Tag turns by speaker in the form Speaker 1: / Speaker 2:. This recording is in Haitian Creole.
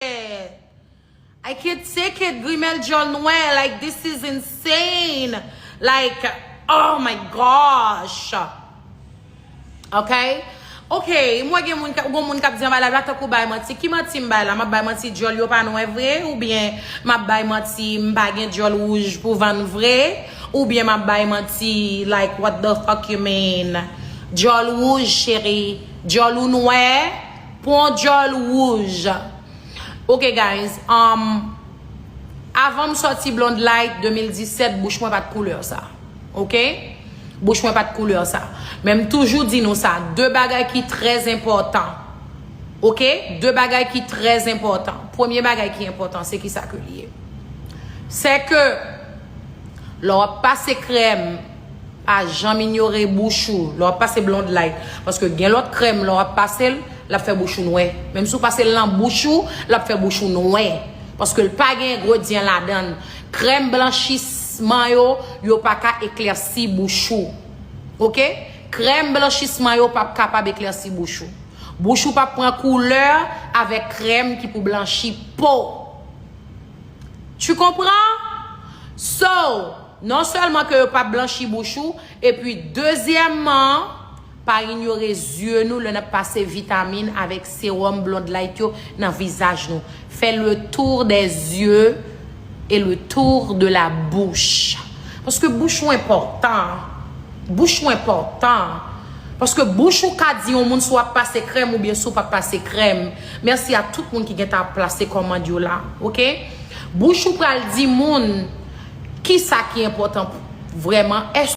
Speaker 1: I can't take it grimèl dyòl nwè like this is insane like oh my gosh ok ok m wè gen moun kap di anba live la tankou bay manti ki manti m bay la map bay manti dyòl yo pa nwè vre oubyen map bay manti m pa gen dyòl wouj pou vann vre oubyen map bay manti like what the fuck you mean dyòl wouj cheri dyòl ou nwè. Pwan djòl wouj Ok guys um Avan m sòti Blonde Light 2017 bouch mwen pat kouleur sa ok bouch mwen pat kouleur sa men m toujou di nou sa de bagay ki trè enpòtan ok de bagay ki trè enpòtan premye bagay ki enpòtan se kisa ke li ye se ke lè wap pase krèm Pa janm inyore bouch ou lè w ap pase Blonde Light paske gen lòt krèm lè w ap pase l l ap fè bouch ou nwè. Menm si w pase l nan bouch ou, l ap fè bouch ou nwè paske l pa gen engredyan ladan l. Krèm blanchisman yo, yo pa ka eklèsi bouch ou. Ok! Krèm blanchisman yo p ap kapab eklèsi bouch ou. Bouch ou p ap pran koulè avèk krèm ki pou blanchi po. Tu comprends? So! Non sèlman ke yo pap blanchi bouch ou, epi dezyèmman, pa inyore zye nou lè n ap pase vitamin avèk sewòm Blondlight yo nan vizaj nou. Fè le tour des yeux et le tour de la bouche. Paske bouch ou enpòtan. Bouch ou enpòtan. Paske bouch ou ka di yon moun si w ap pase krèm oubyen si w pa p pase krèm. Merci a tout moun ki gentan ap plase komand yo la ok bouch ou pral di moun kisa ki enpotan pou vreman eske.